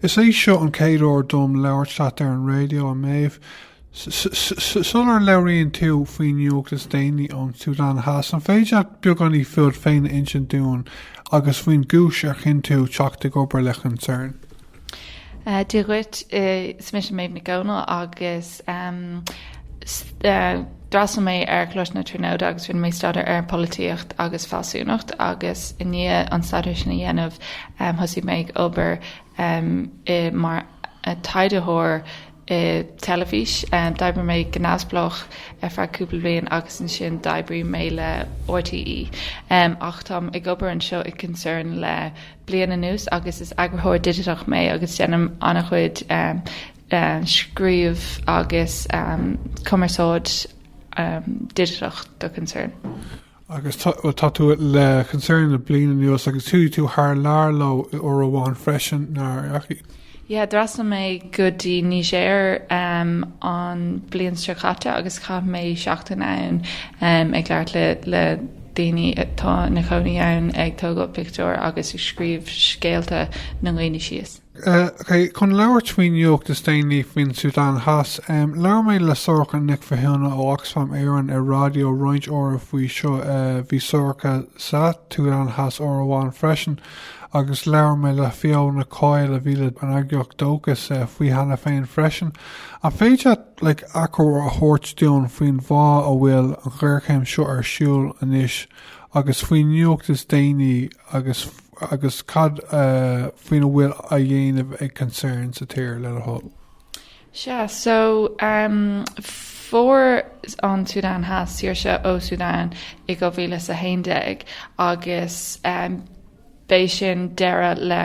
Is é seo an chéad uair dom labhairt leat ar an raidió, a Méabh. Sular labhraíonn tú faoin nuacht is déanaí ón tSúdáin Theas, an féidir leat beagáinín fúd féin a insint dúinn agus faoin gcúis ar chinn tú teacht ag obair le Concern? Dia dhuit, is mise Méabh Nic Dhomhnaill agus d'fhreastail mé ar Choláiste na Tríonóide agus rinne mé staidéar ar polaitíocht agus fealsúnacht agus i ndiaidh an staidéar sin a dhéanamh thosaigh mé ag obair i mar taighdeoir i dteilifís. D'oibrigh mé go neamhspleách ar feadh cúpla bliain agus ansin d'oibrigh mé le RTÉ. Ach táim ag obair anseo i Concern le bliain anuas agus is eagrathóir digiteach mé agus déanaim an-chuid scríobh agus cumarsáid digiteach do Concern. agus tá, bhuel, tá tú le Concern le bliain anuas agus chuaigh tú thar lear leo uair amháin freisin, nár chuaigh? Yeah, d'fhreastail mé go dtí Niger um, an bliain seo caite agus chaith mé seachtain ann um, ag labhairt le, le daoine atá ina chónaí ann ag tógáil pictiúr agus ag scríobh scéalta na ndaoine síos. Chun labhairt faoin nuacht is déanaí faoin tSúdáin Theas, labhair mé le Sorcha Nic Mhathúna ó Oxfam Éireann ar raidió roinnt uaire faoi seo. Bhí Sorcha sa tSúdáin Theas uair amháin freisin agus labhair mé le Fiona Coyle a bhí le an eagraíocht Dóchas faoi cheana féin freisin. An féidir leat achoimre a thabhairt dúinn faoin bhfáth a bhfuil an ghéarchéim seo ar siúl anois agus faoin nuacht is déanaí agus. agus cad faoina bhfuil á dhéanamh ag Concern sa tír le do thoil? Sea, so fuair an tSúdáin Theas saoirse ó Súdáin i 2011 agus b'é sin deireadh le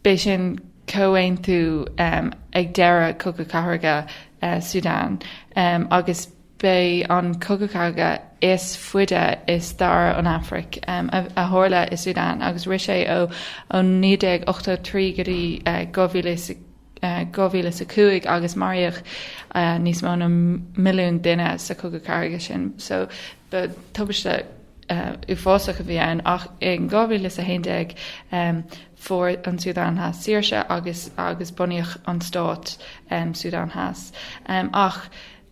b'é sin comhaontú ag deireadh Cogadh Cathartha Súdáin agus b'é an cogadh cathartha is faide i stair an Afraic, a tharla i Súdán agus rith sé ó 1983 go dtí 2005 agus maraíodh níos mó na milliún duine sa chogadh cathartha sin. So ba tubaiste uafásach a bhí ann ach i 2011 fuair an Súdán Theas saoirse agus bunaíodh an stát Súdán Theas. Ach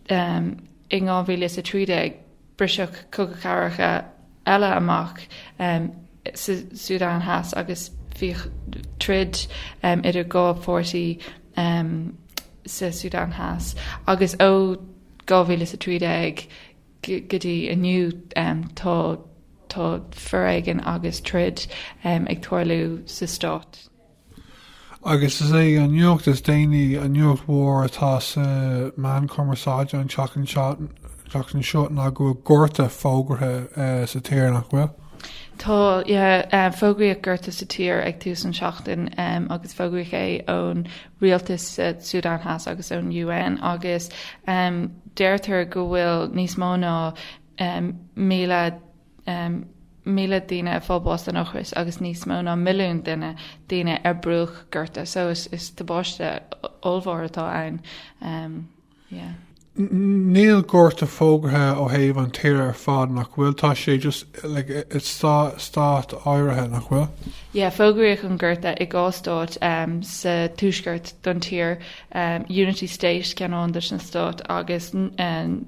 I 2013, briseadh cogadh cathartha eile amach sa tSúdáin Theas agus bhí troid idir dhá pháirtí sa tSúdáin Theas agus ó 2013 go dtí inniu tá foréigean agus troid ag tarlú sa stát. agus is é an nuacht is déanaí an nuacht mhór atá sna meáin chumarsáide an tseachtain seo ná go bhfuil gorta fógartha sa tír, nach bhfuil? Tá, yeah. Fógraíodh gorta sa tír ag tús an tseachtain agus fógraíodh é ón rialtas sa tSúdáin Theas agus ón UN agus deirtear go bhfuil níos mó ná 1,000 1,000 duine ag fáil bháis den ocras agus níos mó ná milliún duine daoine ar bruach gorta so is is tubáiste ollmhór atá ann um, yeah. Níl gorta fógartha ó thaobh an tír ar fad nach bhfuil, tá sé just like, it's stát áirithe nach bhfuil? Yeah, fógraíodh an gorta i dhá stát um, sa tuaisceart don tír, um, Unity State ceann amháin de na stáit agus um,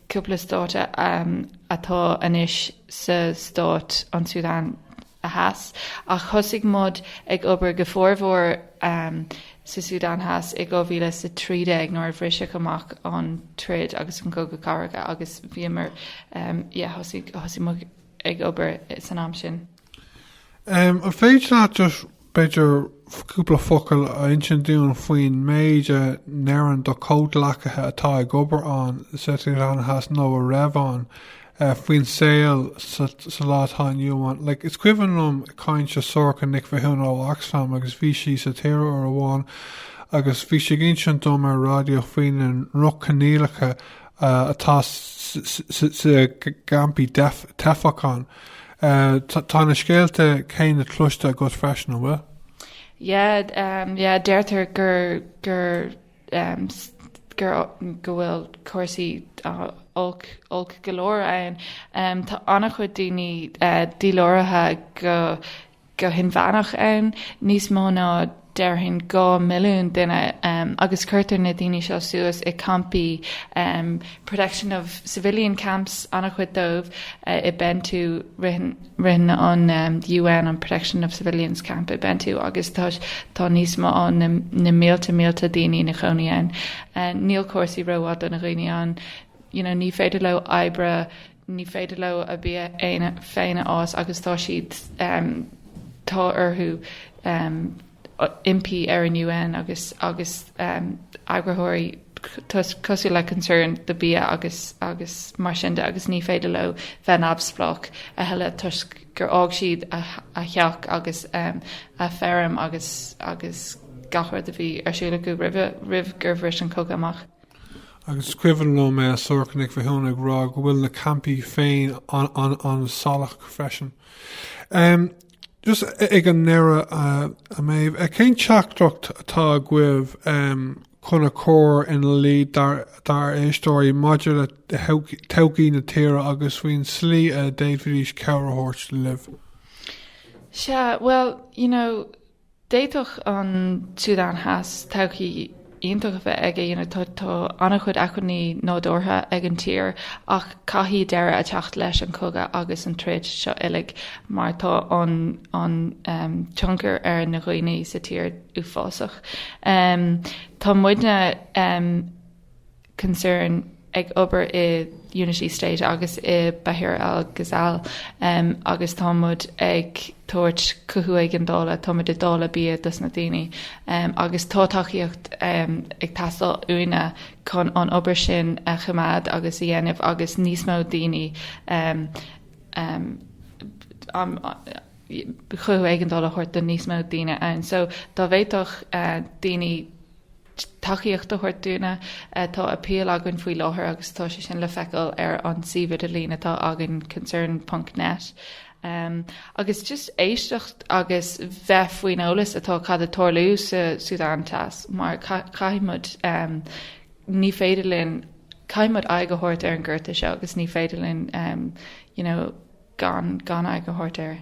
cúpla stát atá anois sa stát an tSúdáin Theas, ach thosaigh muid ag obair go formhór sa tSúdáin Theas i 2013 nuair a bhriseadh amach an troid agus an cogadh cathartha agus bhíomar, yeah, thosaigh muid ag obair san am sin. An féidir leat just, b'fhéidir, cúpla focal a insint dúinn faoin méid a ndeireann do chomhghleacaithe atá ag obair ann, sa tSúdáin Theas nó a raibh ann, faoin saol sa lá atá inniu ann? Like, is cuimhin liom caint le Sorcha Nic Mhathúna ó Oxfam agus bhí sí sa tír uair amháin agus bhí sí ag insint dom ar an raidió faoi na droch-choinníollacha atá sna campaí teifeach ann. Ahh tá na scéalta céanna cloiste agat freisin, an bhfuil? Yeah umm yeah deirtear gur gur umm gur go bhfuil cúrsaí olc olc go leor ann. Umm tá an-chuid daoine díláraithe go go hinmheánach ann, níos mó ná, déarfainn, dhá mhilliún duine, agus cuirtear na daoine seo suas i gcampaí protection of civilian camps an-chuid dóibh i Bentiu, ritheann an UN an protection of civilians camp i Bentiu agus tá níos mó ná na mílte mílte daoine ina gcónaí ann. Níl cúrsaí rómhaith do na daoine ann, you know, ní féidir leo oibre, ní féidir leo a bhia féin a fhás agus tá siad, tá orthu impí ar an UN agus agus eagraitheoirí cosúil le Concern do bia agus agus mar sin de agus ní féidir leo bheith neamhspleách a thuilleadh toisc gur fhág siad a theach agus a feirm agus agus gach rud a bhí ar siúl acu roimhe roimh gur bhris an cogadh amach. agus is cuimhin liom Sorcha Nic Mhathúna ag rá go bhfuil na campaí féin an-salach freisin. Just ag an ndeireadh, a Méabh, cén teachtaireacht atá agaibh chun a chur in iúl dár éisteoirí maidir le todhchaí na tíre agus faoin tslí a d'fhéadfaidís cabhair a thabhairt libh? Sea, bhuel, you know, D'fhéadfadh an tSúdáin Theas todhchaí iontach a bheith aige. Tá an-chuid acmhainní nádúrtha ag an tír ach caithfidh deireadh a theacht leis an chogadh agus an troid seo uilig mar tá an tionchar ar na dhaoine sa tír uafásach. Tá muidne Concern ag obair i Unity State agus i Bahr al Ghazal um, agus tá muid ag tabhairt cothú éigeandála, tá muid ag dáileadh bia dos na daoine um, agus tá tacaíocht um, ag teastáil uainne chun an obair sin a choimeád agus a dhéanamh agus níos mó daoine um, um, um, chuthú éigeandála a thabhairt do níos mó daoine ann. So dá bhféadfadh uh, daoine tacaíocht a thabhairt dúinne. Tá appeal againn faoi láthair agus tá sé sin le feiceáil ar an suíomh idirlín atá againn concern ponc net. Agus just éisteacht agus bheith faoin eolas atá cad atá ag tarlú sa Súdáin Theas mar caithfidh muid ní féidir linn caithfidh muid aghaidh a thabhairt ar an gorta seo agus ní féidir linn you know gan gan aghaidh a thabhairt air.